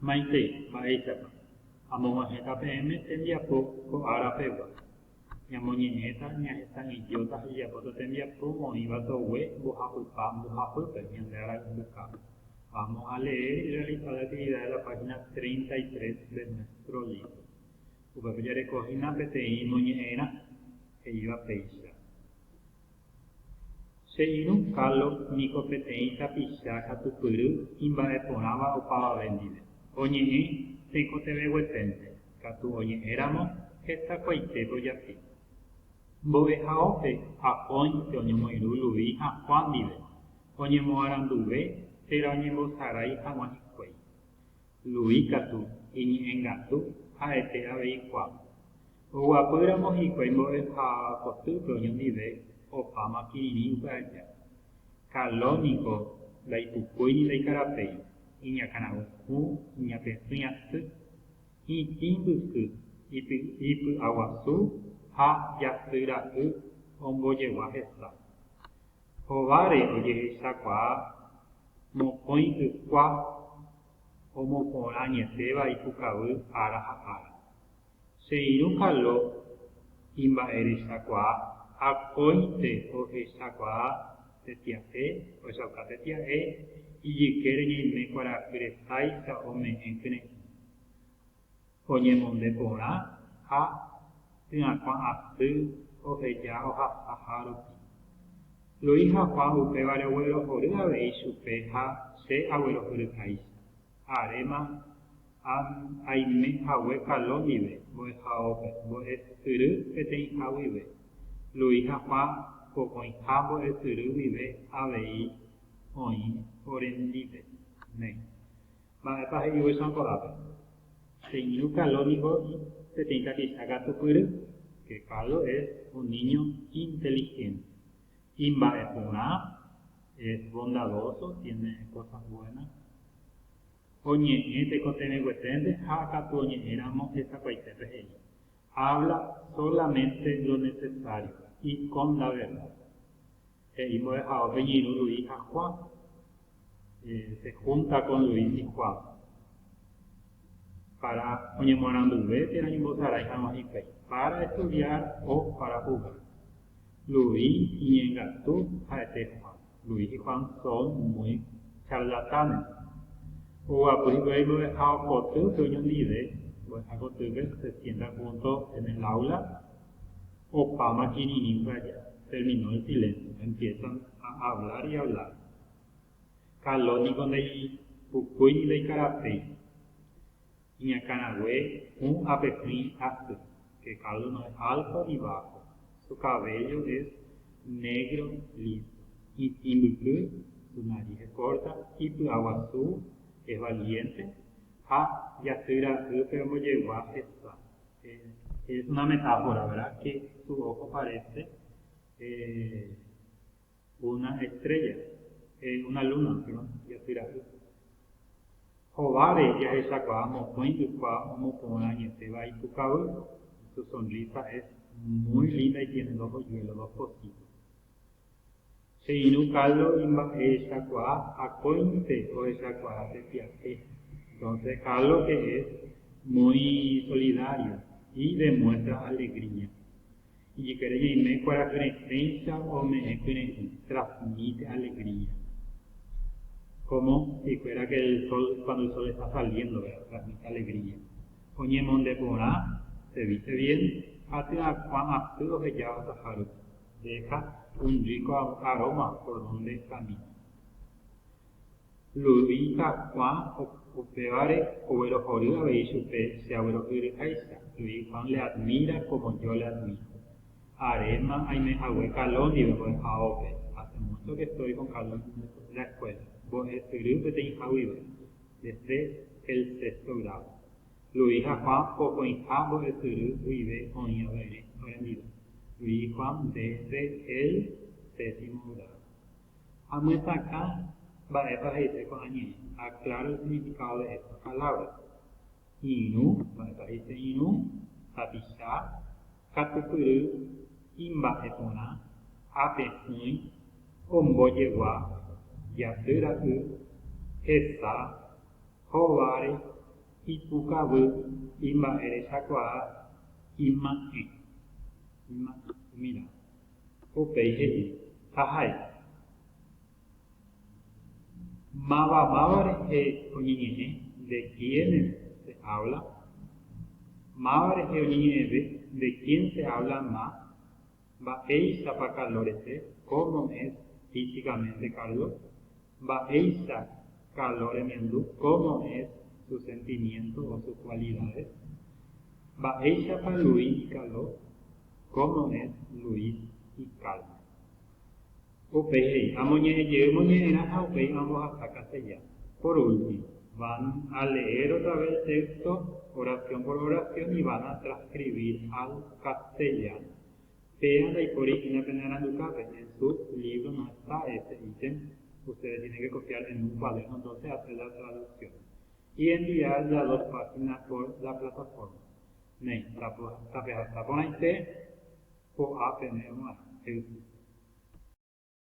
Maitei, mba'éichapa. Amog̃uahẽta peẽme tembiapo ko ára pegua. Ñamoñe'ẽta ñahesa idiota hejapóta tembiapo oĩva togue mbohapypa mbohapýpe ñande ára ympykápe. Vamos a leer y realizar la actividad de la página 33 de nuestro libro. Upépe jareko hína peteĩ moñe'ẽrã, he'íva péicha. Che irũ Carlo niko peteĩ tapicha katu pyry imba'eporãva opavave ndive. Oñe'ẽ tekotevẽgueténte, katu oñe'ẽramo hetakuaite tojapi. Mbo'ehaópe ha póinte oñomoirũ Luis ha Juan ndive, oñemoaranduve térã oñembosarái hag̃ua hikuái. Luis katu iñe'ẽngatu ha'ete avei Juan. Oguapy ramo hikuái mbo'eha kotýpe oñondive opáma kirirĩ upe aja. Kaló niko ndaipukúi ni ndaikarapéi, iñakãragu hũ, iñapesỹi asy, itĩ mbyky, ipy'aguasu ha jasy ra'y ombojegua hesa. Hováre ojehechakuaa mokõi ykua omoporãñetéva ipukavy ára ha ára. Che irũ kalo imba'erechakuaa ha kóinte ohechakuaa tetia'e ohechauka tetia'e ijykére ñaime kuarahy resáicha ome'ẽ kyre'ỹ, oñemonde porã ha tyãkuã asy oheja ohasaha rupi. Lo'i haguã upévare oguerohory avei chupe ha che aguerohoryháicha. Aréma aime hague Kalo ndive, mbo'ehaópe, mbo'e syry peteĩha guive. Luis ha Juan pokõiha mbo'e syry guive avei oĩ orendípe. Néi. Mba'épa he'igue San ko'ápe? Che irũ Kalo niko peteĩ tapicha katupyry. Che Kalo es un niño inteligente. Imba'e porã, es bondadoso, tiene cosas buenas. Oñe'ẽ tekotevẽgueténte ha katu oñe'ẽramo hesakuaitépe he'i, Habla solamente lo necesario y con la verdad. He'i mbo'ehaópe Ñirũ Luis ha Juan. se húnta con Luis y Juan pára oñemoaranduve térã ñembosarái hag̃ua hikuái, pára estudiar o pára jugar. Luis iñengatu ha'ete Juan. Luis y Juan son muy charlatanes. Oguapy hikuái mbo'eha kotýpe oñondive, mbo'eha kotýpe se sienta junto en el aula, opáma kirirĩpa aja. Terminó el silencio, empiezan a hablar y hablar. Kalo niko ndaipukúi ni ndaikarapéi. Iñakãrague hũ ápe pyĩ asy, que cada uno es alto y bajo, su cabello es negro liso, itĩ mbyky, su nariz es corta, ipy'aguasu, es valiente, ha jasy ra'ýpe ombojegua hesa. Es una metáfora, verdad, que su ojo parece Una estrélla, eh, una luna, perdón, japyra'y. Hováre jahechakuaa mokõi ykua omoporã añetéva ipukavy, y su sonrisa es muy linda y tiene dos hoyuelos, dos cositas. Che irũ caldo imba'ehechakuaa akóinte ohechakuaa pe pya'e. Entonces ca lo que es muy solidario y demuestra alegría. Ijykére ñaime kuarahyre péicha ome'ẽ pyre'ỹ, transmite alegría. Cómo hikuera que el sol cuando el sol está saliendo, ¿verdad? Transmite alegría. Oñemonde porã, se viste bien, ha tyakuã asy oheja osaha rupi, deja un rico aroma por donde camina. Ludita Juan upévare oguerohory avei chupe che aguerohyiryháicha, Luis Juan le admira como yo le admiro. Aréma aimehague Caló ndive mbo'ehaópe, hace mucho que estoy con Caló en la escuela, mbo'esyry peteĩha guive, desde el sexto grado. Luis ha Juan pokõiha mbo'esyry guive oĩ avei orendive, Luis Juan desde el séptimo grado. Amyesakã mba'épa he'ise ko'ã ñe'ẽ. Aclara el significado de estas palabras. Irũ, mba'épa he'ise irũ, tapicha, katupyry, imba'e porã, apehỹi, ombojegua, jaty ra'y, hesa, hóvare, ipukavy, imba'erechakuaa, ima'ẽ. Ima'ẽ, umi ramo. Upéi he'i, Jahai. Máva máva rehe oñeñe'ẽ, de quiénes se habla? Máva rehe oñeñe'ẽve, de quién se habla más? Mba'éichapa calor ese, cómo es físicamente Carlos? Mba'éicha calor remiandu, cómo es su sentimiento o sus cualidades? Mba'éichapa Luis calor? Cómo es Luis y Calma. Upéi he'i, Amoñe'ẽ jey moñe'ẽrã ha upéi ambohasa castellano. Por último, van a leer otra vez el texto oración por oración y van a transcribir al castellano. Péa ndaipóri hína pene arandukápe, en su libro no está ese ítem, ustedes tienen que copiar en un cuaderno entonces hacer la traducción y enviar las dos páginas por la plataforma. Néi, tapehasa porãite ko'ã pene g̃uarã, he'ise.